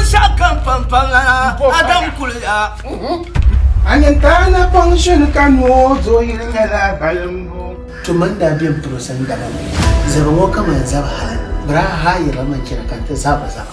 Binshɛɣu kam pampam lana Adam kuliya. A ni taana kpaŋ shini ka noo zooi yili nyɛla balimbu. To man daa bem puro sani dama zaba ŋɔ ka man zaba hali biraa ha yiriba man chana ka n ti zaba zaba.